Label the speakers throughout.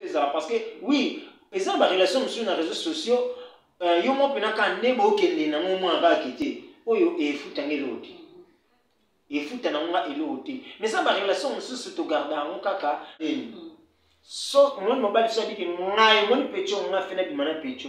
Speaker 1: ezala parce que oui eza na barelation mosusu na réseau sociaux euh, yo mwa mpena kaka nde bokende nango omona kaka kete oyo efuta nga eloko te efuta nango nga eloko te mais eza barelation mosusu togarda yango kaka nini so omoni mobali biso abiki ngai omoni peco nga fena bima na peco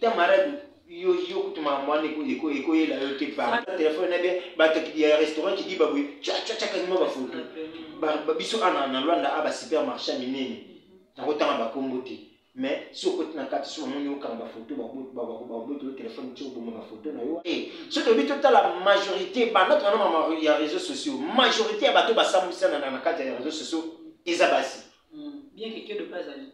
Speaker 1: ta malade yo yo kutu makambo wana ekoyela yo te telefone na bien bato ya restaurant kidiba boye cacacakakima bafoto biso ana na lwanda a basupermarché ya minene nakotanga bakombo te mais si okoti na kati so bamoni okanga bafoto babotolo telefone ti oboma bafoto na yo eh, soki oyebi totala majorité banda tona ya réseau sociaux majorité ya bato basambwisana na kati ya réseau sociaux eza basi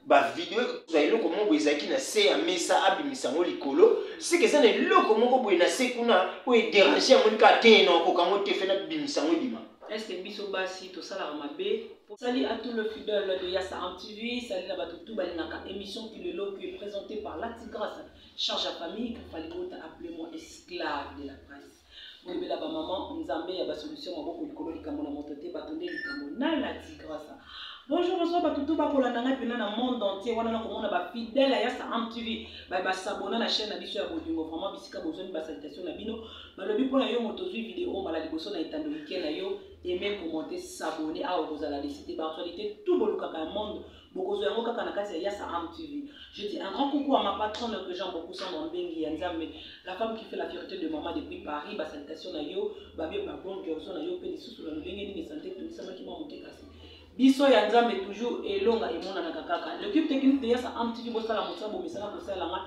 Speaker 2: bavideo ekozwa
Speaker 1: eloko moko boye ezalaki na se ya mesa abimisa yango likolo seke eza na eloko moko boye na se kuna oyo ederange yango nika te na okoka yango te fena bimisa yango ebima eske biso basi
Speaker 2: tosalaka mabe Salut à tout le fidèle de Yassa en TV, salut la Batoutou Balinaka, émission qui le lot qui est présentée par Lati Grâce, charge à famille, qu'il fallait appelez-moi esclave de la presse. boyebela bamama nzambe ya basolution maboko likolo likambo na moto te bato nde likambo na la tigrasa bonjour bonsoir bato to bakolanda ngai mpena na monde entier wana nakomona bafidèle ya saam tv basabona na chaîne na biso ya bolingo vraiment bisika bozwani basalitation na bino balobi mpo na yo moto ozwi video mbala liboso na etando mike na yo aime commente sabone awa okozala lesi te baactualité tout bolukaka ya monde bokozwa yango kaka na kati ya yasa am tv je dis un grand coucou à ma patronne que jean bokusa mwambengi ya nzambe la femme qui fait la fierté de maman depuis paris basalutation na yo babie babon jorzo na yo mpe lisusu na lolenge nini sante etunisamaki mwa moke kasi biso ya nzambe toujours elonga emonanaka kaka l'équipe technique de yasa am tv bosala mosala bomesana kosalelanga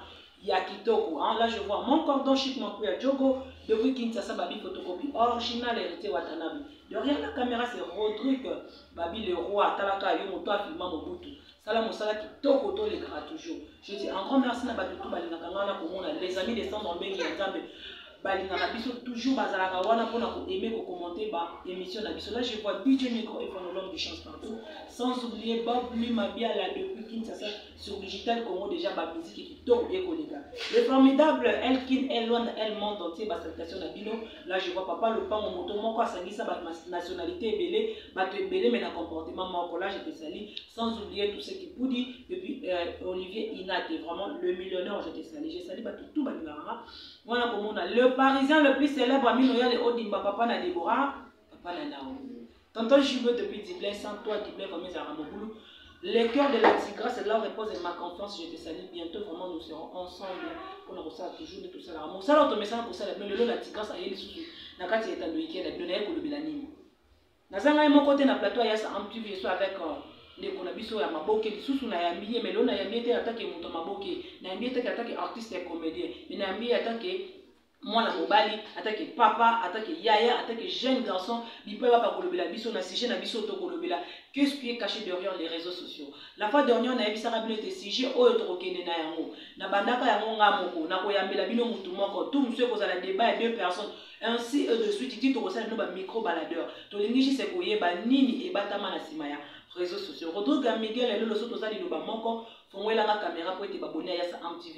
Speaker 2: ya kitoko hein? là je vois mon cordon chic mon kuya jogo depuis kinshasa babi photocopie original héritier watanabe derrière la caméra c'est rodrigue babi le roi atalaka yo moto afilma mobutu sala mosala kitoko tolekaka toujours je dis en grand merci na bato tu balingaka ngai na komona les amis de centre mbengi ya nzambe balingaka biso toujours bazalaka wana mpona koaime kokommente ba émission na biso là je vois dj micro et phonologue de chance partout sans oublier bob lumabiala depuis kinshasa sur Digital Congo déjà ba musique kitoko bien koleka. Le formidable Elkin Elon El Monde entier ba salutations na bino. Là je vois papa Lopango moto moko asangisa ba nationalité ebele, bato ebele mais na comportement moko. Là je te salue sans oublier tout ce qui poudi et puis euh, Olivier Inate vraiment le millionnaire je te salue. Je salue bato tout balingaka. Mwana komona le parisien le plus célèbre Amino Yale Odimba papa na Deborah Papa na nao. Tonton Jugo depuis Diblay, sans toi Diblay comme ils arabes boulot. Le cœur de la tigresse, là repose et ma confiance, je te salue bientôt, vraiment nous serons ensemble. On a ça toujours de tout ça. Mon salaire, ton message pour ça, mais le la tigresse a eu sous na kati ya tando ikela bino naye kolobela nini naza ngai moko te na plateau ya sa amtv eso avec euh, ndeko na biso ya maboke lisusu nayambi ye melo nayambi ye te atake moto ya maboke nayambi ye te atake artiste ya comédien me nayambi ye atake mwana mobali atake papa atake yaya atake jeune garçon bipai baka kolobela biso na sujet na biso tokolobela que ce qui est caché derrière les réseaux sociaux la fois dernière nayebisaka bino ete sujet oyo tokokende na yango na bandaka yango nga moko nakoyambela bino motu moko tu mosu ekozala débat ya deux personnes ainsi et de suite ti tokosala bino bamicro baladeur tolingi juste koyeba nini ebatama na nsima ya réseaux sociaux rodrigue ya miguel eloloso toza liloba moko fongoelanga kamera mpo ete baboni ayasa amtv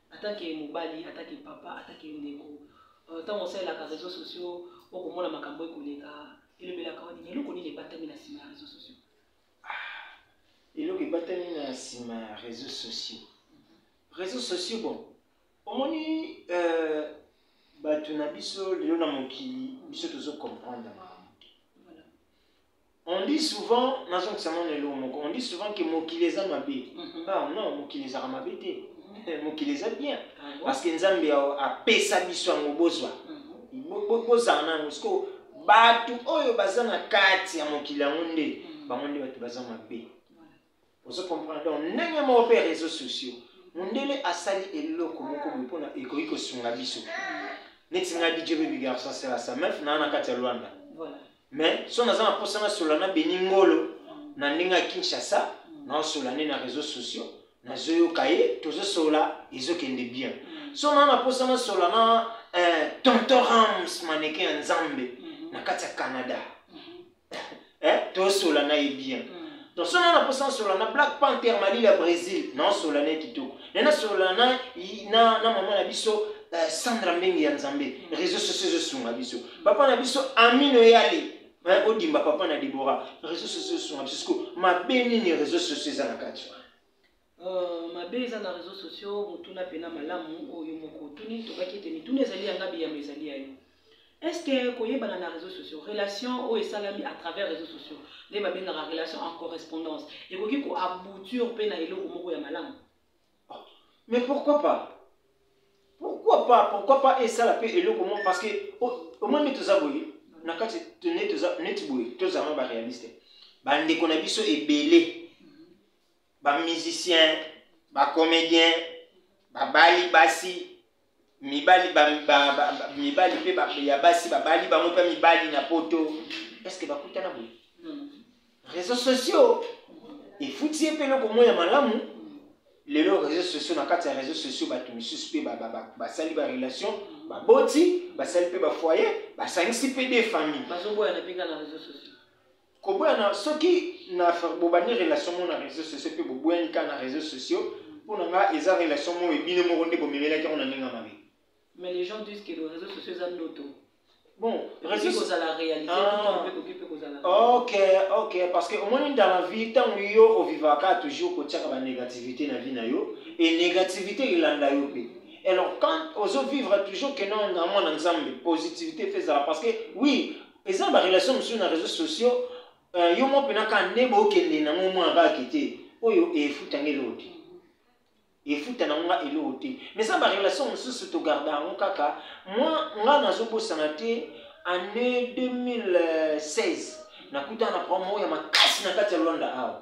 Speaker 2: atake mobali atake papa atake ndeko ntango euh, osalelaka réseau sociaux okomona makambo ekoleka elobelaka wani eloko nini ebatami na nsima ya réseau sociaux ah,
Speaker 1: eloko ebatami na nsima ya réseau sociaux réseau sociaux bon omoni euh, bato na biso lelo na mokili biso tozo comprendre makambo On dit souvent, nazongisa nano eloko moko, on dit souvent que mokili eza mabe. Mhm. Ah non, mokili ezaka mabe te. Mhm. Mokili eza bien. Ah Parce que Nzambe apesa biso yango bozwa. Mhm. Bozala nano siko bato oyo baza na kati ya mokili yango nde bango nde bato baza mabe. ozo comprendre donc ndenge moko mpe ya réseau sociaux mondele asali eloko moko boye mpona ekoki kosunga biso neti ngai dj baby garçon asala sa mef naa na kati ya luanda mais so naza na mposa nasola na beni ngolo na ndenge ya kinshasa mm. naosola nde na réseau sociaux nazoyoka ye tozosola ezokende bien mm. so naa na mposa nasola na eh, tonton rams maneke ya nzambe mm-hmm. na kati ya canada mm-hmm. eh, tosola na ye bien mm. donc so nana mposa nasola na black panther malili ya brésil nasola na ye kitoko naye nasola na, na, na mama na biso uh, sandra mbenge ya nzambe mm. réseau sociaux ezosunga biso papa na biso amino yale eh, odimba papa na debora réseau sociaux ezosunga biso siko mabe nini réseau sociaux eza na kati Euh,
Speaker 2: mabe eza na réseaux sociaux motuna pena malamu oyo oh, moko otuni tokaki ete mituna ezali ya nga biyama ezali ya yo est ce que koyebana na réseaux sociaux relation oyo oh, esalami à travers réseaux sociaux nde babengaka relation en correspondance ekoki koaboutir mpe na eloko moko ya malamu ah,
Speaker 1: mais pourquoi pas pourquoi pas pourquoi pas esala mpe eloko moko parce que omoni oh, toza boye na kati neti boye tozalama baréaliste bandeko na biso ebele ba musiciens ba comédiens babali basi mibali ba, ba, ba, ba, mibali mpe ba, ya basi babali bango mpe mibali na poto eske bakutana boye mm. réseau sociaux efuti ye mpe eloko moko ya malamu lelo réseau sociaux na kati ya réseau sociaux bato misusu mpe basali barelation baboti basali mpe bafoyer basangisi mpe de famille bazoboyana mpe kaka na réseau
Speaker 2: sociaux koboya na
Speaker 1: soki na bobandi relation moko na réseaux sociaux mpe boboyani kaka na réseaux sociaux mpo na nga eza relation moko ebino moko nde bomemelaki yango na ndenge ya mabe mais les gens disent
Speaker 2: que le réseau sociaux eza ndoto bon
Speaker 1: réseau kozala
Speaker 2: réalité ah. mpe koki mpe kozala
Speaker 1: ok ok parce que omoni dans la vie ntango yo ovivaka toujours kotiaka banégativité na vie na yo et négativité elanda yo mpe alors quand ozo vivre toujours que non na mwana nzambe positivité fezala parce que oui eza na barelation mosusu na réseau sociaux uh, yo moko mpena kaka nde bokende nango omona kaka kete oyo efuta nga eloko te efuta nango nga eloko te mais eza barelation mosusu togarda yango kaka mwa nga nazobosana te année 2016 nakutana na problème moko ya makasi na kati ya lwanda awa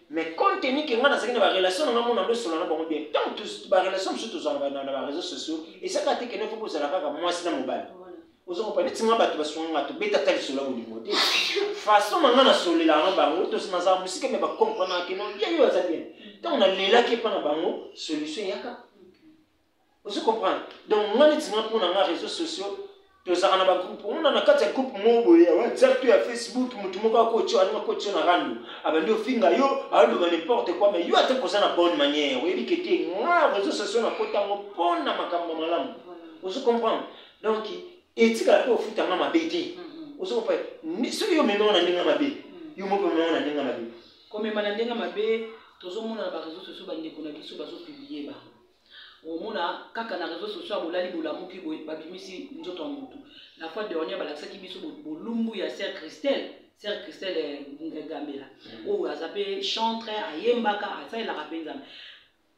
Speaker 1: Mais compte tenu que nga nazalaki na ba relation na nga mona ndo sona na bango bien. Tant tous ba relation mosusu tozala na na ba réseaux sociaux et ça kati que ne faut kozala kaka mwasi na mobali. Ozo ko pale tinga bato basunga nga to beta tali sola au niveau te. Façon na nga na solela na bango to sina za musika mais ba comprendre que non bien yo aza bien. Tant on a lela ke pa na bango solution yaka. ozo comprendre donc nga neti nga mpona nga réseau sociaux tozalaka na bagroupe omona na kati ya groupe moko boye ya whatsapp to ya facebook motu moko akotio alingi akotio na rando abandi ofinga yo aoloba n'importe quoi mais yo ata koza na bonne manière oyebi ke te nga réseau sociaux nakota yango mpona makambo malamu ozo comprendre donc etikala mpe ofuta nga mabe te ozo comprendre soki yo omemanga na ndenge mabe yo moko omemanga na ndenge mabe komema na ndenge
Speaker 2: mabe tozomona na bareseau sociaux bandeko na biso bazopublie bango omona kaka na réseau social bolali bolamuki boye babimisi nzoto ya motu la fois dernière balakisaki biso bolumbu ya sœur christelle sœur christelle eh, ngegambela mm. oyo aza mpe chantre ayembaka asalelaka mpe nzambe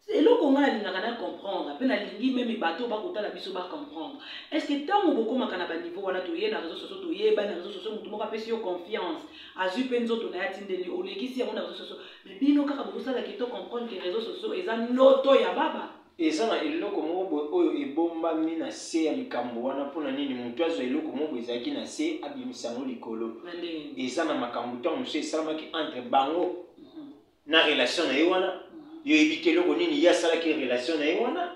Speaker 2: eloko ngai nalingaka na comprendre mpe nalingi meme bato bakotala biso bacomprendre est ce que ntango bokomaka na baniveau wana toye na réseau sociaux toyeba na réseau sociaux motu moko apesi yo confiance azwi mpe nzoto na ye atindeli olekisi yango na réseau sociaux Mais bino kaka bozosala kito comprendre que réseaux sociaux eza ndoto ya baba. Eza na eloko
Speaker 1: moko boye oyo ebombami na se ya likambo wana mpo na nini moto azwa eloko moko boye ezalaki na se abimisa yango likolo. Eza na makambo ntango mosusu esalamaki entre bango mhm. na relation na ye wana mhm. yo oyebi te eloko nini ye asalaki relation na ye wana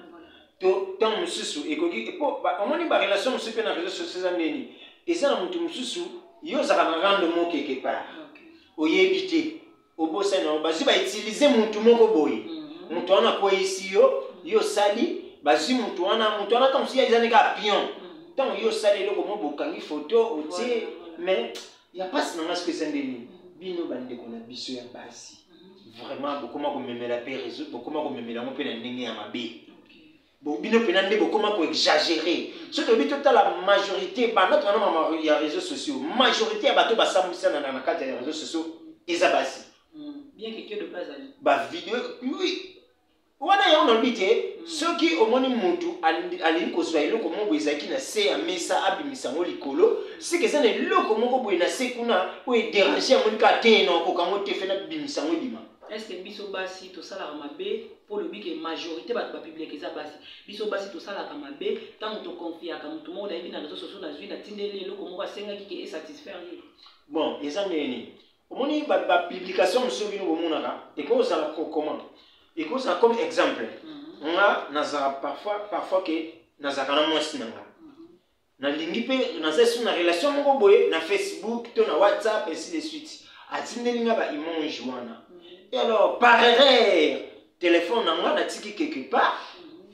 Speaker 1: to ntango mosusu ekoki mpo omoni barelation mosusu mpe na réseau sociaux eza ndeni eza na moto mosusu yo ozalaka na rando mokeke part oyebi te obosani yango bazwi ba utilize mutu moko boye mhm. mutu wana akweyisi yo mhm. yo osali bazwi mutu wana mutu wana ntango mosusu eza ndenge apion mhm. ntango yo osali eloko mo bokangi foto otie mais ya mpasi na ngai soki eza nde nini bino bandeko na biso ya basi vraiment bokoma komemela mpe réseau bokoma komemela yango mpe na ndenge ya mabe bino mpena nde bokoma koexagere soki toyebi totala majorité banda towana ya réseau sociaux majorité ya bato basambwisana na kati ya réseau sociaux eza basi
Speaker 2: bavideo oui
Speaker 1: wana yango nalobi te hmm. soki omoni motu alingi kozwa eloko moko boye ezalaki na se ya mesa abimisa yango likolo seke eza na eloko moko boye na se kuna oyo ederange yango nika te na okoka yango te fena bimisa yango ebima est-ce que biso basi
Speaker 2: tosalaka mabe mpo olobi ke majorité bato bapublike eza basi biso basi tosalaka mabe ntango toconfiaka moto moko nayebi na réseau sociaux nazwi natindeli eloko moko asengaki ke esatisfaire ye bon eza
Speaker 1: ndenge nini omoni bapublication mosusu bino bomonaka ekozala comment ekozala comme exemple mhm. nga nazala parfois parfois ke nazalaka na mwasi na nga nalingi mpe naza esu na relation moko boye na facebook to na whatsapp ainsi de suite atindeli nga baimage wana e alors par erreur telefone na nga natiki quelque part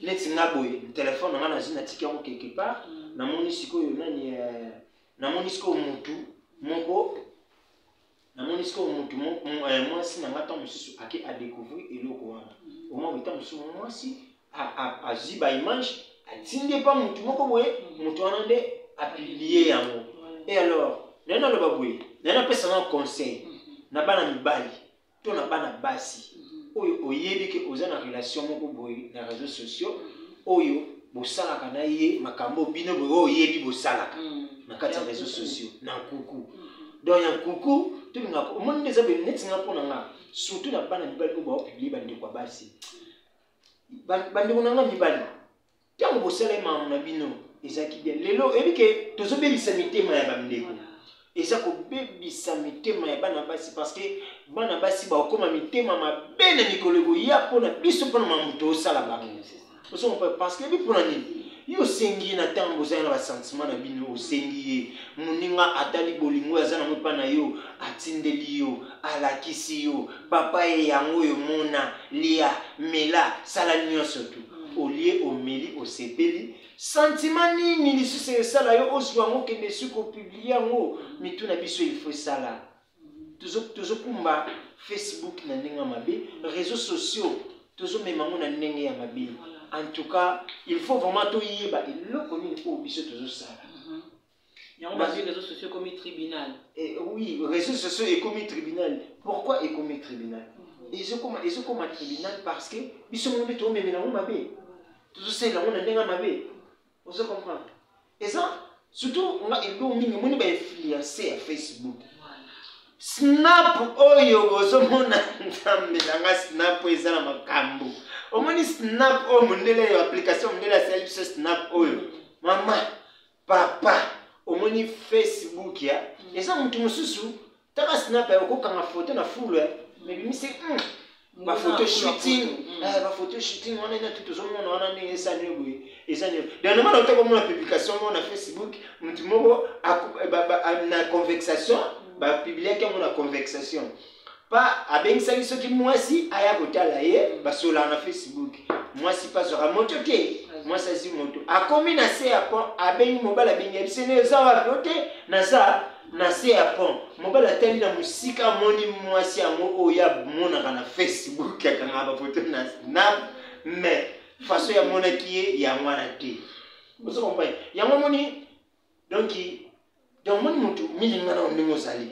Speaker 1: neti nga boye telefone na nga nazwi natiki yango quelque part namoni sikoyo nani eh, namoni sikoyo motu moko namoni sikoyo motu eh, mwasi na ngai ntango mosusu ake adecouvrir eloko wana omoi mm. ntango mosusu mwasi azwi baimage atindi epa motu moko boye mm. motu wana nde apilie yango e alors naye naloba boye naye napesa nao conseil mm-hmm. na bana mibali to na bana basi mm-hmm. oyo oyebi ke oza na relation moko boye na réseau sociaux mm-hmm. oyo bosalaka na ye makambo bino boye oyo oyebi bosalaka na kati ya réseau sociaux na nkuku donc ya nkuku tolingaka omoni nde eza boye neti nga mpo na nga surtout na bana mibali oyo baopiblie bandeko ya basi bandeko na nga mibali ntango bosala ye makambo na bino ezalaki bien lelo oyebi ke tozobebisa mitema ya bandeko eza kobebisa mitema ya bana basi parce que bana basi bakokoma mitema mabe na mikolo ekoya mpo na biso mpo na makambo tosala bango ozompa parce que mpo na nini yo osengi ye na ntango ozali na basentiment na bino osengi ye moninga atali bolingo aza nango epai na yo atindeli yo alakisi yo papa ye yango oyo mona lia mela sala nyonso tu mm. olie omeli osepeli sentima nini lisusu esala yo ozwa yango okende esuki opiblie yango mitu na biso ilfo esala tozokumba facebook na ndenge ya mabe réseau sociaux tozomema yango na ndenge ya mabe en tout cas il faut vraiment toyeba eloko nini oyo biso tozosala mhm. yango
Speaker 2: bazwi réseau sociaux ekomi tribunal eh, oui
Speaker 1: réseau sociaux ekomi tribunal pourquoi ekomi tribunal mhm. ezokoma ezokoma tribunal parce que biso moko nde toomemela yango mabe tozosalela yango na ndenge ya mabe ozo comprendre eza surtout nga eloko mingi omoni ba influence ya facebook snap oyo bozomona nzambe na nga snap oyo eza na makambo omoni snap oyo mondele ya application mondele asali biso snap oyo mama papa omoni facebook ya eza motu mosusu Taka snap ya ko kanga photo na foule. Eh. Mais bimi c'est hmm, ba photo shooting, hmm. eh ba photo shooting wana na tout ozomona wana ndenge esani yo boye. Eza nini? Dernier moment otako mona publication mona Facebook, mutu moko eh, na convexation, hmm. ba publier yango na convexation. pa abengisaki soki mwasi aya kotala ye basolaka na facebook mwasi pa azwaka moto te mwasi azwi moto akomi na se ya pont abengi mobali abengi ya biso ne eza wapi o te naza Na se ya pont, mobali atali na mosika, amoni mwasi yango oyo amonaka na Facebook, akangaka bafoto na snap, mais façon yamonaki ye yango wana te. Ozo comprendre? Yango omoni donc donc omoni motu milingana ndenge ozali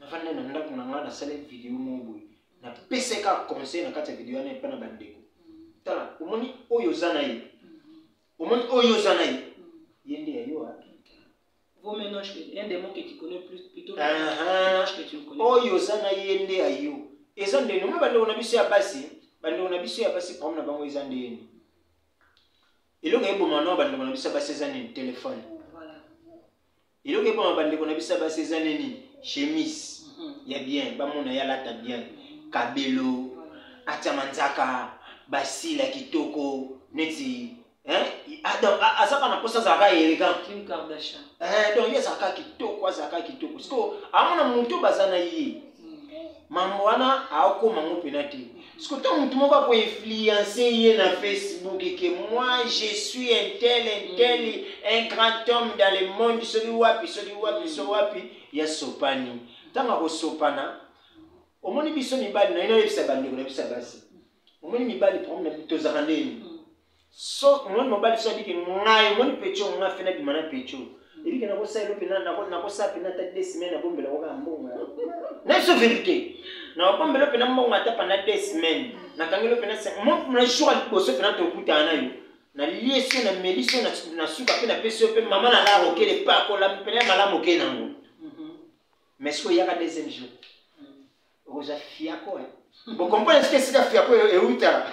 Speaker 1: nafandi na ndako na ngai nasali video moko boye napesai kaka conseil na kati ya video wana epai na bandeko tala omoni oyo oza na ye omoni oyo oza na ye ye nde ya yo Vos
Speaker 2: mélanges, il y a des mots que tu connais plus, plutôt que mélanges que tu ne connais pas. Oyo oza na ye
Speaker 1: nde ya yo. Eza nde noma bandeko na biso ya basi, bandeko na biso ya basi problème na bango eza nde yeni. Eloko eboma na bandeko na biso ya basi eza nini? Telefone. eloko epama bandeko na biso ya basi eza nde nini chemise ya bien bamona ye alata bien kabelo atya manzaka basila kitoko neti azaka na mposa azalaka elegant
Speaker 2: donc ye azalaka
Speaker 1: kitoko azalaka kitoko sikoyo amona moto baza na ye mambo wana aokoma yango mpena te siko ntango motu moko akoinfluence ye na facebook ke moi je suis un tel un mm. tel un grand homme dans le monde soki wapi soki wapi mm. soki wapi ya sopani ntango akosopana omoni biso mibali naino ayebisa bandeko na biso ya basi omoni mibali problème tozalaka ndeni mm. so omoni mobali so abike ngai omoni pecho nga fe nabima na pecho ebike nakosalela mpe nakosala mpe nata de semaine nabombela ngo kaka mbongo nayeso verité nabombela mpe na mbongo ata panda de semaine nakangeli mpe na jour ya liboso mpe natokutana na yo nalie so na meli so na suka mpe napesi yo mpe mama na laro okele mpe akola mpena ya malamu oke nango mais soki oyaka deuxième jour oza fiako hein bokomprene soki esika fiako euta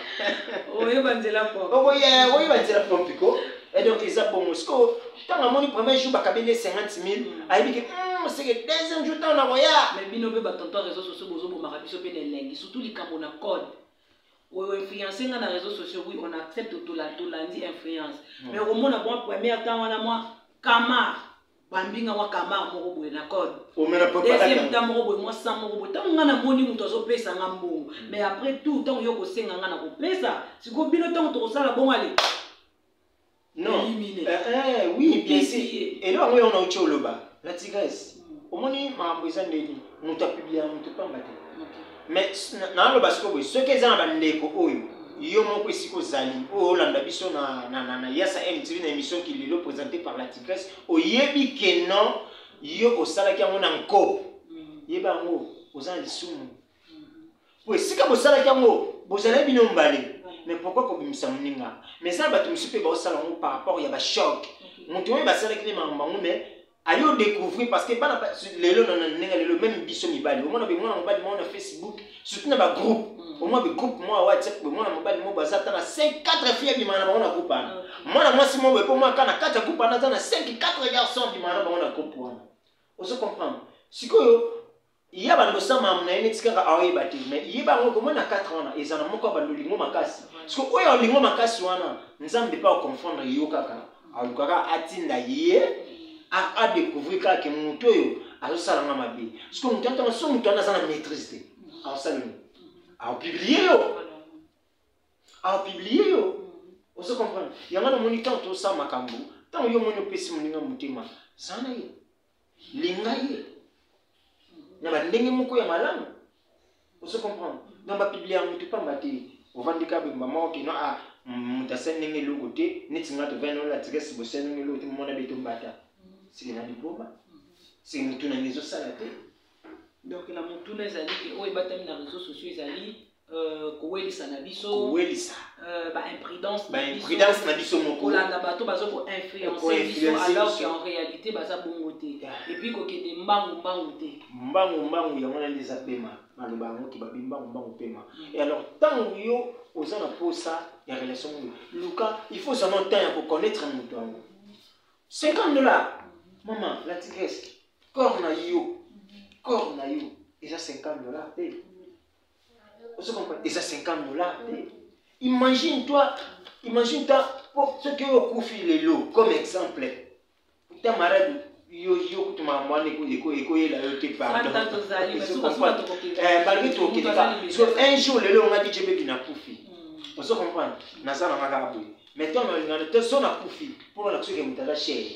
Speaker 1: oyeba
Speaker 2: nzela okoyeba nzela
Speaker 1: pompiko donc eza bongo sikoyo ntango amoni premier jour bakabeli ye 50 mille mm. ayebi ke hmm, seke deuxième jour ntango nakoya mais bino mpe batonto ya
Speaker 2: réseau sociaux bozobomaka biso mpe na elengi surtout likambo na code oyo influence nga na réseau sociaux oui on accepte tolandi influence mm. mais okomona bwa première temps wana mwa camar bambinga mwa kamar moko boye na code deuxième temps moko boye mwa sang moko boye ntango ngai namoni moto azopesa nga mbongo mm. mais après tout ntango yo kosenga ngai na kopesa sikoyo bino ntango tokosala bongo ale
Speaker 1: non eh, eh, oui bien sûr elo yango yo nauti oloba la tigresse mm. omoni makambo eza ndeni moto apiblia moto pamba te mais naloba sikoyo boye soki eza na bandeko oyo yo moko esika ozali oyo olanda biso na, na, na, na yasa mtv na émission kilelo présenté par la tigresse oyebi ke non yo osalaki yango na nko mm. yeba yango oza na lisumu po esika bosalaki yango bozalaki bino mbale mais pourquoi kobimisa moninga mais eza na bato mosusu mpe baosala yango par rapport ya bachoc moto oyo basalaki nde makambo yango mais ayo découvrir parce que bana lelo na ndenge lelo même biso mibali omona be mwana mobali mwana na facebook surtout na ba groupe mm. omona be groupe mwa whatsapp be mwana mobali moko aza ata na 5 4 filles abima na bango na groupe wana mm. mwana mwasi moko epo mwa kana kati ya groupe wana aza na 5 4 garçon abima na bango na groupe wana ozo comprendre sikoyo ya bando osama na ye neti kaka aoyeba te mais yeba yango komona 4 wana eza na moko ya bando olingo makasi soki oyo olingo makasi wana nzambe mpe akomfondre yo kaka alukaka atinda ye adecouvrir kaka ke moto oyo azosala nga mabe soki moto atanga so moto wana aza na maîtrise te aosala nini aopiblie yo aopiblie yo ozo comprendre yango namoni ntango tosala makambo ntango yo omoni opesi moninga motema zala na ye linga ye na bandenge moko ya malamu ozo comprendre donc bapiblia ya motu pamba te ovandi kaka boye mama okino a moto asali ndenge eloko te neti nga tovandi ola tirese bosali ndenge eloko te momona beto mbata seke na diploma seke motu nange ezosala te donc
Speaker 2: na motuna ezali ke oyo ebatami na réseau sociaux ezali euh, kowelisa na biso kowelisa euh,
Speaker 1: baimprudence
Speaker 2: baimprudence na biso
Speaker 1: moko kolanda bato baza
Speaker 2: koinfluence biso alors que en réalité baza bongo te epuis kokende mbangu mbangu te mbangu
Speaker 1: mbangu yango nani eza pema maloba yango ke babi mbangu mbangu pema mm. e alors ntango yo oza na mposa ya relation moyo luka il faut ozana ntan ya koconnaître moto yango 50 dollars mama la tigresse corps na yo corps na yo eza 50 dollars te ozo comprendre eza 50 dollars te imagine toi imagine toi soki oyo okufi lelo comme exemple ta marade yo yo kutu makambo wana ekoyela yo te pardonbalaki tokeleka so un jour lelo ongaki jebebi na kufi hmm. ozo comprendre naza na ngaka boye mais to nalingana te so na kufi mpo na soki moto aza chere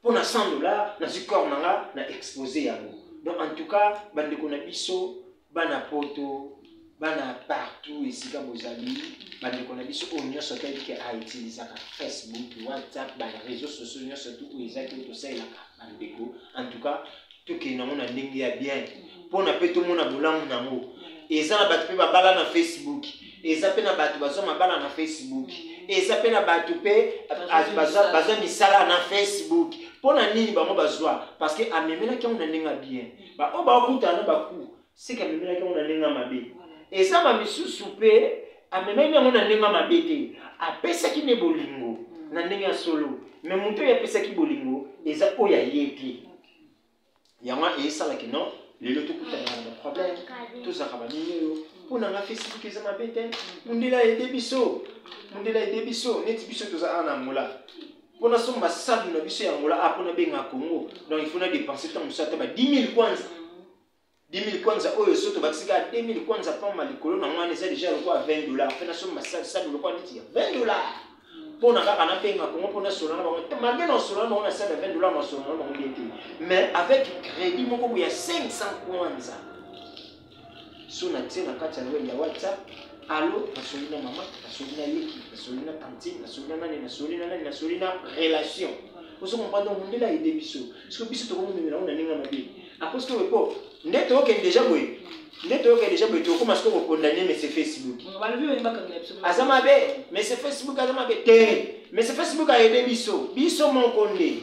Speaker 1: mpo na 100 dollars nazwi corps na nga na expose yango donc en tout cas bandeko na biso bana poto bana partout esika bozali bandeko na biso oyo nyonso toyebi ke autilisaka facebook whatsapp bareseau sociaux nyonso tu oyo ezaki oyo tosalelaka bandeko en tout cas tokende nango na ndenge ya bien mpona mpe tomona bolamu na yango eza na bato mpe babala na facebook eza mpe na bato bazwa mabala na facebook eza mpe na bato mpe bazwa misala na facebook mpo na nini bango bazwa parce que amemelaki yango na ndenge ya bien baoyo bakutana na baku Seke amemelaki yango na ndenge ya mabe. Eza ba misusu pe amemaki yango na ndenge ya mabe te. Apesaki nde bolingo mm. na ndenge ya solo. Me moto oyo apesaki bolingo eza oyo aye te. Yango esalaki no lelo tokutana na baproblème tozalaka baninga oyo mpo na nga facebook eza mabe te mondela ede biso mondela ede biso neti biso toza awa na angola mpo nasomba sabu na biso ya angola a ah, mpo nabenga congo donc ifo na dépense ntango mosusu ata ba 10 000 kwanza 2000 kwanza oyo so tobakisi kaka 2000 kwanza pamba likolo na ngai eza deja lokola 20 dollar mpe nasomba sabu lokola neti ya 20 dollar mpo na kaka nabenga kongo mpo nasola na bango malgre nasola na bango na sabu ya 20 dollar nasola na bango bien te mais avec crédit moko boye ya 500 kwanza so natie na kati ya noel ya whatsapp alo nasoli na mama nasoli na leki nasoli na tantine nasoli na nani nasoli na nani nasoli na relation ozo comprendre mundele ayede biso soki biso tokomemela yango na ndenge ya mabe Akosi to po nde to ke deja boye. Nde to ke deja boye to koma siko ko condamner monsieur Facebook. Balobi yo mbaka ngela biso. Aza mabe, monsieur Facebook aza mabe te. Monsieur Facebook a aidé biso. Biso moko nde.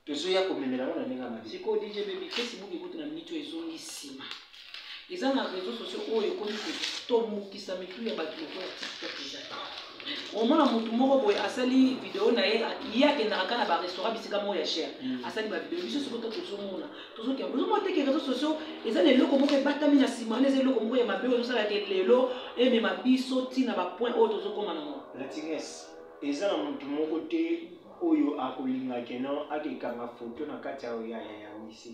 Speaker 1: Tozo ya ko memela ngona ndenge mabe. Siko DJ baby Facebook
Speaker 2: ekutu na minute ezongi sima. eza na réseau sociaux oyo ekomi kotomokisa mitu ya bato lokola tiktok eza omona motu moko boye asali video na ye ye akendaka kaka na barestaurant bisika moko ya cher mm. asali bavideo biso soki to tozomona tozokende ozomona teke réseau sociaux eza na eloko moko ebatami na nsima wana eza eloko moko ya mabe oyo osalaka lelo emema biso ntina bapoint oyo tozokoma nango latines
Speaker 1: eza na motu moko te oyo akolinga keno akekanga foto na kati ya wise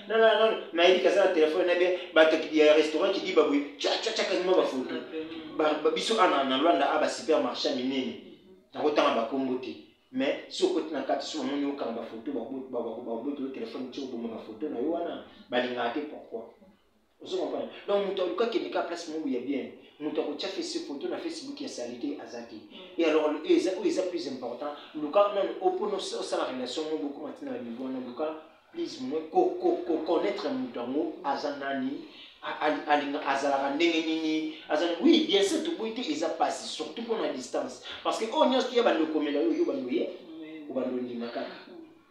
Speaker 1: Non, non, non, nayebi kaza na telefone na bien bato ya restaurant kidiba boye cacaca kanyima bafoto biso ana na lwanda a basupermarché ya minene nakotanga bakombo te mais si okoti na kati so bamoni okanga bafoto babotolo telefone ti oboma bafoto na yo wana balingaka te pourquoi ozo comprendre donc moto aluka kende kaka place moko ya bien moto akotya fesi foto na facebook ya salite aza te mm. e alors e eza oyo eza plus important luka nano opona osala relation moko bokoma ntina ya niveau wana luka plus moins koconnaître moto yango aza nani alinga azalaka ndenge nini azali oui bien sûr toboyi te eza mpasi surtout mpo na distance parce que oyo oh, nyonso toya bando okomela yo yo bando ye obando ondima kaka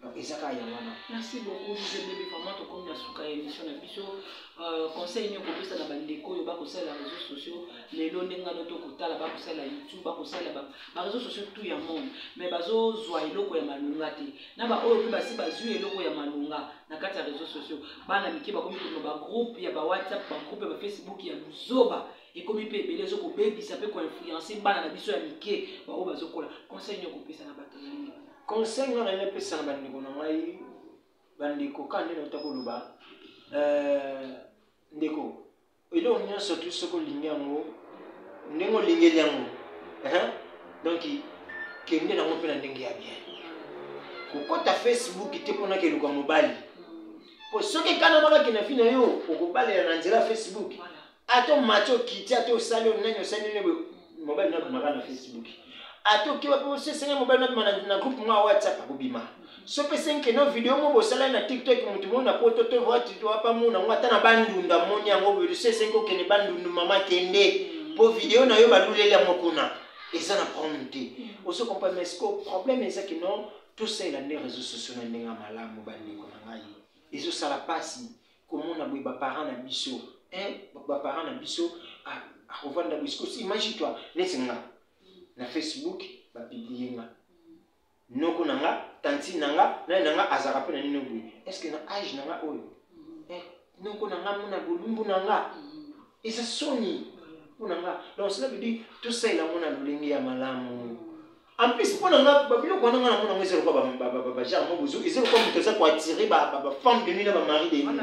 Speaker 1: donc eza kaka yango wana merci beaucoup jose
Speaker 2: bebe vraiment tokomi na suka ya émission na biso euh, conseil nini okopesa na bandeko oyo bakosalela réseau sociaux lelo ndenge ngano to kotala bakosalela youtube bakosalela baréseau sociaux tout ya monde mais bazozwa eloko ya malonga te na baoyo mpe basi bazwi eloko ya malonga na kati ya réseau sociaux bana mike bakomi koma bagroupe ya bawhatsapp bagroupe ya bafacebook ya buzoba ekomi mpe ebele ezo kobebisa mpe koinfluence bana na biso ya mike baoyo bazokola conseil nini okopesa na bato na nini conseil nga naye
Speaker 1: napesa na bandeko na ngai bandeko ka nde nauta koloba euh, ndeko eloko nyonso tu soki olingi yango ndenge olingeli yango donc kende nango mpe na ndenge ya bien kokɔta facebook te mpo nakeluka mobali mpo soki ekanamaka kina vi na yo okobalela na nzela facebook ata omati okiti ata osali oyo nani osali nini boye mobali na abimaka na facebook ata oki wapi osesenge mobali na abima na groupe mwa whatsapp akobima so pesenge no video moko bosalani na tiktok motu moko na poto to wapa mona yango ata na bandunda moni yango boye osesenge okende bandundu mama kende mpo video na yo baluleli yango kuna eza na problème te ozo comprendre mais siko problème eza kino tosalela nde réseau sociaux na ndenge ya malamu bandeko na ngai ezosala mpasi komona boye ba parents na biso hein ba parents na biso akovanda boye sikoyo imagine toi neti nga na facebook ba publie nga noko na nga tantine na nga nani na nga azalaka mpe na nino boye est ce que na age na nga oyo mm. eh, noko na nga mona bolumbu na nga mm. eza soni mpo na nga donc cela veut dire tosalela yango na lolenge ya malamu mm. En plus, mpo na nga babiloko wana nga namona ngo eza lokola bagenre moko bozo eza lokola moto aza koattire bafemme de nuit na bamari de nuit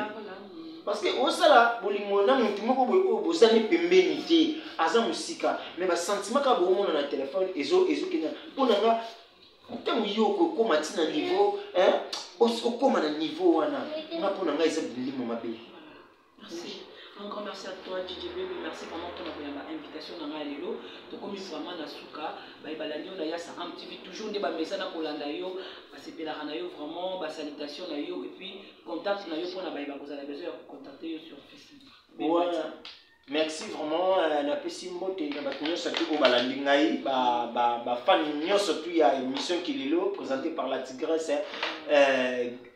Speaker 1: parce que osala bolingo na motu moko boye oyo bozali pembeni te aza mosika mais basentiment kaka boomona na telefone ezokenda mpo na nga ntango yo okokoma ti na niveau okoma na niveau wana nga mpo na ngai eza bilimo mabe Merci.
Speaker 2: Un grand merci à toi, DJ Baby. Merci vraiment pour l'invitation dans la Lelo. Tu comme vraiment la souka, bah bah l'année on a yassa un petit peu toujours des bah mais ça n'a pas l'anda yo, bah c'est pela na yo vraiment, bah salutation na yo et puis contact na yo pour na bah bah vous avez besoin de contacter yo sur Facebook. Ouais.
Speaker 1: merci vraiment euh, napesi mbote na bato nyonso atu oyo balandi ngai bafani nyonso tu ya émission kilelo présentée par la tigresse euh,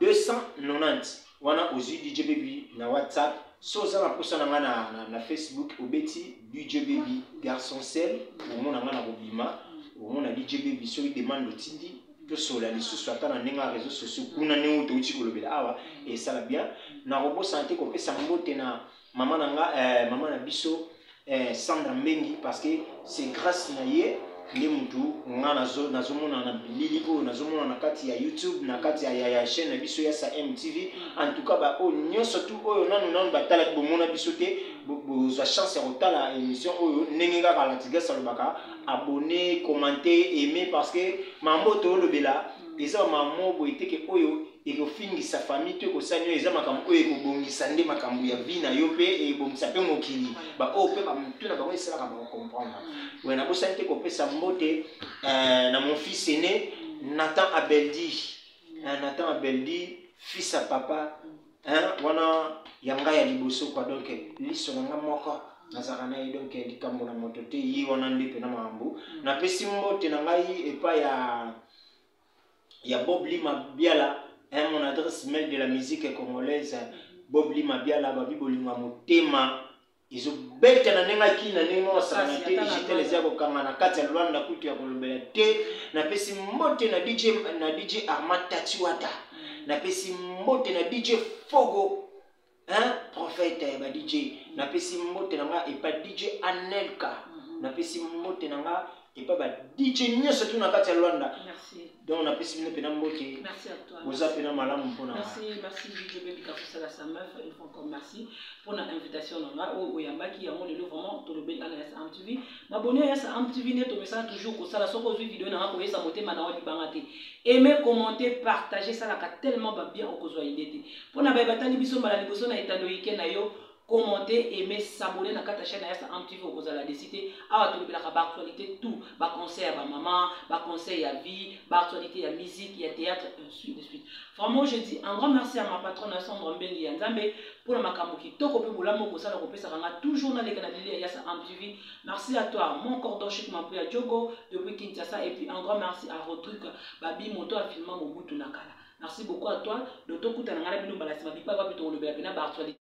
Speaker 1: 290 wana ozwi DJ Baby na WhatsApp so oza na posa na nga na, na, na Facebook obeti DJ Baby garçon sel omona nga na kobima omona DJ Baby soki demande otindi tosola lisusu ata na ndenge ya réseau sociaux kuna ndenge otouti kolobela awa esala bien nakobosana te kopesa mbote na Maman na nga, eh, maman na biso eh, Sandra Mbengi parce que c'est grâce na ye nde mutu nga nazo nazomona na bilili oyo nazomona na kati ya YouTube na kati ya, ya, ya chaîne na biso ya sa MTV en tout cas ba oyo nyonso tu oyo nanu nanu batalaki bomona biso te bo- bozwa chance ya kotala émission oyo ndenge kaka Latigas alobaka abonne commente aime parce que mambo toolobela eza bamamo boye te ke oyo ekofingisa famille to ekosani oyo eza makambo oyo ekobongisa nde makambo ya vie na yo mpe ebongisa mpe mokili baoyo mpe bamotu na bango esalaka bakocomprendre boye nabosani te kopesa mbote eh, na mon fils aine nathan abeldi eh, nathan abeldi fils ya papa wana ya ngai ya liboso kwa donk liso na ngai moko nazalaka na ye donk likambo na moto te ye wana nde mpena makambo napesi mbote na ngai epai ya ya Bob Lima Biala hein, mon adresse mail de la musique congolaise Bob Lima Biala babi bolingo ya motema ezobeta na ndenge akii na ndenge mokosakana te digital eza kokanga na kati ya lwanda kutu ya kolobela te napesi mbote na dj, na DJ arma tatiwata napesi mbote na dj fogo hein prophète ya ba DJ napesi mbote na nga epa DJ Anelka mhm. napesi mbote na nga epa ba DJ nyonso tu na kati ya Luanda merci donc napesi
Speaker 2: bino pena
Speaker 1: mbote merci à toi boza
Speaker 2: pena malamu mpona
Speaker 1: merci merci DJ
Speaker 2: Baby Kafusala sa meuf une fois encore merci pour na invitation na nga oyo oyambaki yango lelo vraiment tolobeli ana ya Sam TV maboni ya Sam TV nde tomesana toujours kosala soki ozwi video na nga koyesa motema na yo libanga te aimer commenter partager salaka tellement babien okozwa idée te Mpo na baye batali biso mbala liboso na etando ike na yo, commente, aime, s'abonner na kata chaîne ya Am TV okozala desi te. Awa tolobelaka ba actualité tout, ba conseil ya ba maman, ba conseil ya vie, ba actualité ya musique, ya théâtre, ainsi de suite. Vraiment, je dis un grand merci à ma patronne ya Sandra Mbengi ya Nzambe mpo na makambo kitoko mpe bolamu okosala kopesaka nga toujours naleka na lili ya Yasa Am TV. Merci à toi, mon cordon chic Mampuya Djogo depuis Kinshasa et puis un grand merci à Rodrigue Babi moto afilma Mobutu na kala. Merci beaucoup à toi. Donc tokutana ngai na bino mbala sima bipai wapi tokolobela pena ba actualite.